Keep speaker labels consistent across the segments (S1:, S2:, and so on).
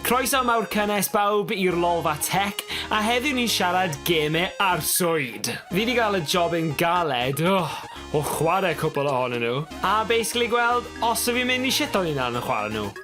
S1: Croeso mawr cynnes bawb i'r Lolfa Tech, a heddiw ni'n siarad geme arswyd! Fi 'di gael y job yn galed, oh, o chwarae cwpl ohonyn nhw. A basically gweld os 'y fi'n mynd i shito hunan yn chwarae nhw.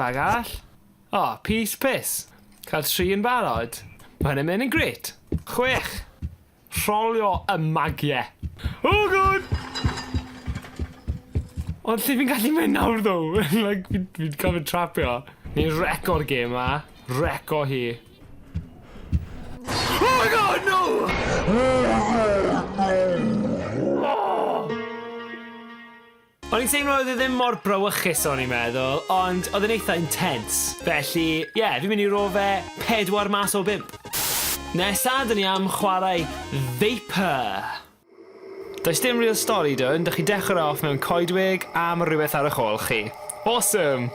S1: Be arall? O, pys pys! Cael tri yn barod? Mae hyn yn mynd yn grêt! Chwech! Rholio y magiau! Oh god! Ond lle fi'n gallu mynd nawr ddo? like, fi'n fi gorfod trapio. Ni'n record game ma. Reco hi. Oh my god, no! Oh, no! O'n i'n teimlo oedd e ddim mor brawychus o'n i'n meddwl, ond oedd e'n eitha intense. Felly, ie, fi'n mynd i ro fe 4 mas o 5. Nesa, dyn ni am chwarae Vapor. Does dim real stori dwn, dych chi'n dechrau e off mewn coedwig a mae rhywbeth ar eich ôl chi. Awesome!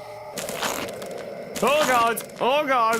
S1: Oh God! Oh God!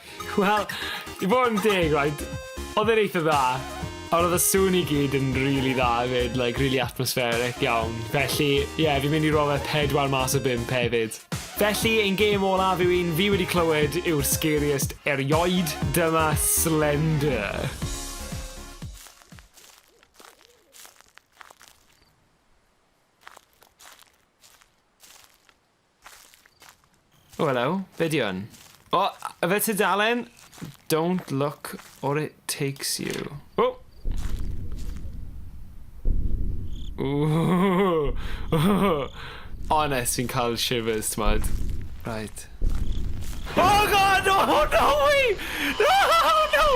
S1: Wel, i fod yn deg, right, oedd e'n eitha dda, ond oedd y sŵn i gyd yn rili really dda hefyd, like, rili really atmospheric iawn. Felly, ie, yeah, fi'n mynd i rofa pedwar mas o bimp hefyd. Felly, ein gêm olaf yw un fi wedi clywed yw'r scariest erioed, dyma Slender. O, helo. Be di hwn? O, yfe tudalen? Don't look or it takes you. O! Ooh. Honest, fi'n cael shivers, t'mod. Right. Oh god, no, oh, no way! No, oh, no!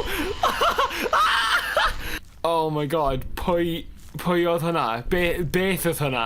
S1: oh my god, pwy, pwy oedd hwnna? Be, beth oedd hwnna?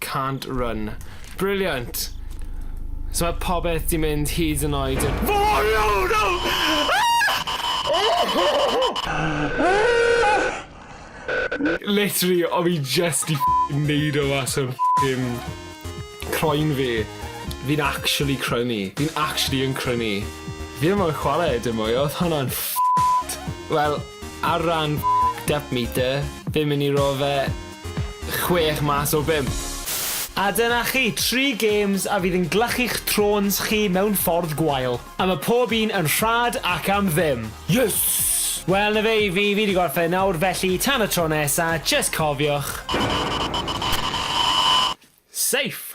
S1: Can't run. Brilliant! So mae popeth di mynd hyd yn oed i'r... Literally o fi jyst di ff***ing neud o mas o'r ff***ing croen fi. Fi'n actually crynu. Fi'n actually yn crynu. Fi ddim moyn chware dim mwy odd hwnna'n ff***ed. Wel ar ran depth meter fi'n myn i roi fe chwech mas o bump. A dyna chi, tri gêms a fydd yn glychu'ch trôns chi mewn ffordd gwael. A ma' pob un yn rhad ac am ddim. Yes! Wel, 'na fe i fi, fi 'di gorffen nawr, felly tan y tro nesa, jyst cofiwch, Safe!